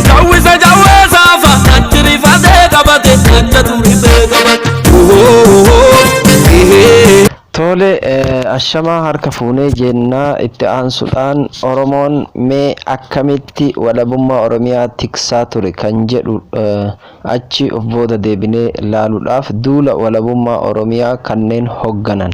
Jawwisa jawweesa fa natti rifatee qabate natti turifee qabate. Tole eh, ashamaa harka fuunee jennaa itti aansuudhaan Oromoon mee akkamitti walabummaa Oromiyaa tiksaa ture kan jedhu eh, achi of booda deebinee laaluudhaaf duula walabummaa Oromiyaa kanneen hogganan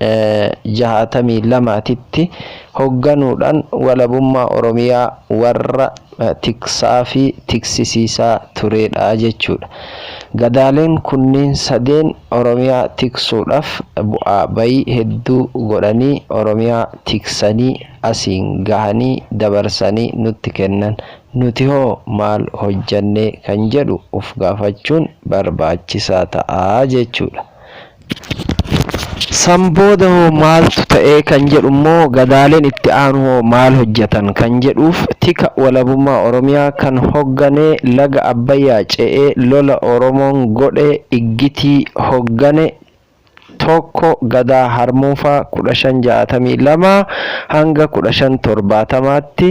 62 titti hogganuudhaan walabummaa Oromiyaa warra tiksaafi tiksisiisaa tureedha jechuudha. Gadaaleen kunniin sadeen Oromiyaa tiksuudhaaf bu'aa bayii hedduu godhanii Oromiyaa tiksanii asiin gahanii dabarsanii nutti kennan. Nuti hoo maal hojjannee kan jedhu uf gaafachuun barbaachisaa ta'a jechuudha. San booda hoo maaltu ta'e kan jedhu immoo gadaaleen itti aanu hoo maal hojjetan kan jedhuuf tika walabummaa Oromiyaa kan hoggane laga Abbayyaa ce'ee lola Oromoon godhe Iggitii hoggane 1 Gadaa Harmuufaa 1562-1570tti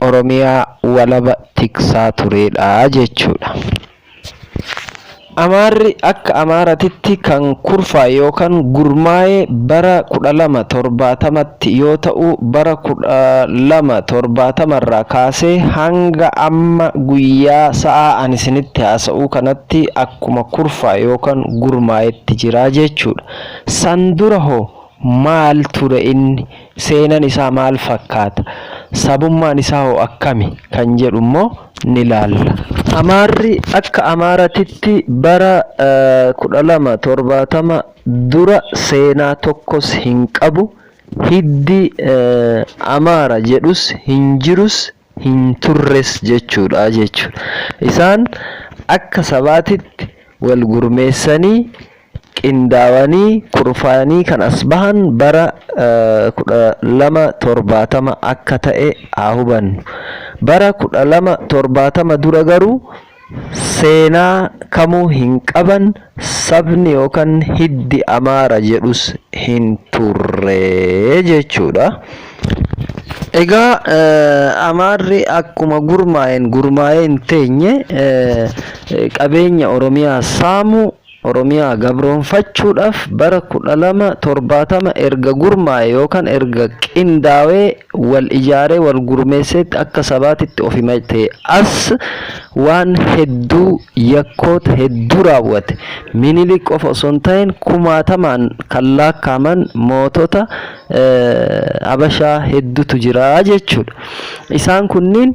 Oromiyaa walaba tiksaa tureedha jechuudha. Amaarri akka Amaaratitti kan kurfaa'e yookan gurmaa'e bara 1270tti yoo ta'u, bara 1270 irraa kaasee hanga amma guyyaa sa'aa ani isinitti haasa'uu kanatti akkuma kurfaa'e yookan gurmaa'etti jira jechuudha. San dura hoo Maal ture inni? Seenan isaa maal fakkaata? Sabummaan isaa hoo akkami? kan jedhu immoo ni laalla. Amaarri akka Amaaratitti bara 1270 dura seenaa tokkos hin qabu, hiddi Amaara jedhus hin jirus hin turres jechuudha jechuudha. Isaan akka sabaatitti wal gurmeessanii, qindaawanii, kurfaayanii kan as bahan bara 1270 akka ta'e haa hubannu. Bara 1270 dura garuu. Seenaa kamuu hin qaban, sabni yookan hiddi Amaara jedhus hin turre jechuudha. Egaa Amaarri akkuma gurmaa'een gurmaa'ee hin teenye qabeenya Oromiyaa saamuu, Oromiyaa gabroomfachuudhaaf bara 12, 70 erga gurmaa'ee yookaan erga qindaawee wal ijaaree wal gurmeesseetti akka sabaatitti of himatee as waan hedduu yakkoota hedduu raawwate. Minilik qofa osoo hin ta'in kumaatamaan kan laakkaaman mootota Habashaa heddutu jira jechuudha. Isaan kunniin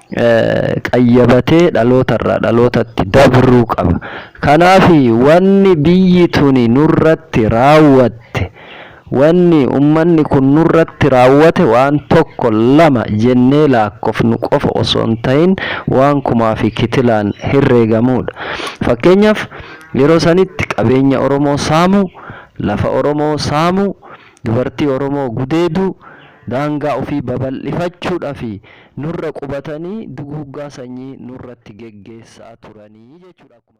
qayyabatee dhaloota irraa dhalootatti dabruu qaba. Kanaaf wanni biyyi tuni nurratti raawwatte, wanni ummanni kun nurratti raawwate waan tokko lama jennee laakkofnu qofa osoo hin ta'in waan kumaa fi kitilaan herreegamuudha. Fakkeenyaaf yeroo sanitti qabeenya Oromoo saamuu, lafa Oromoo saamuu, dubartii Oromoo gudeeduu, daangaa ofii babal'ifachuudhaa fi. nurra qubatanii duguuggaa sanyii nurratti geggeessaa turanii jechuudha. Akkuma.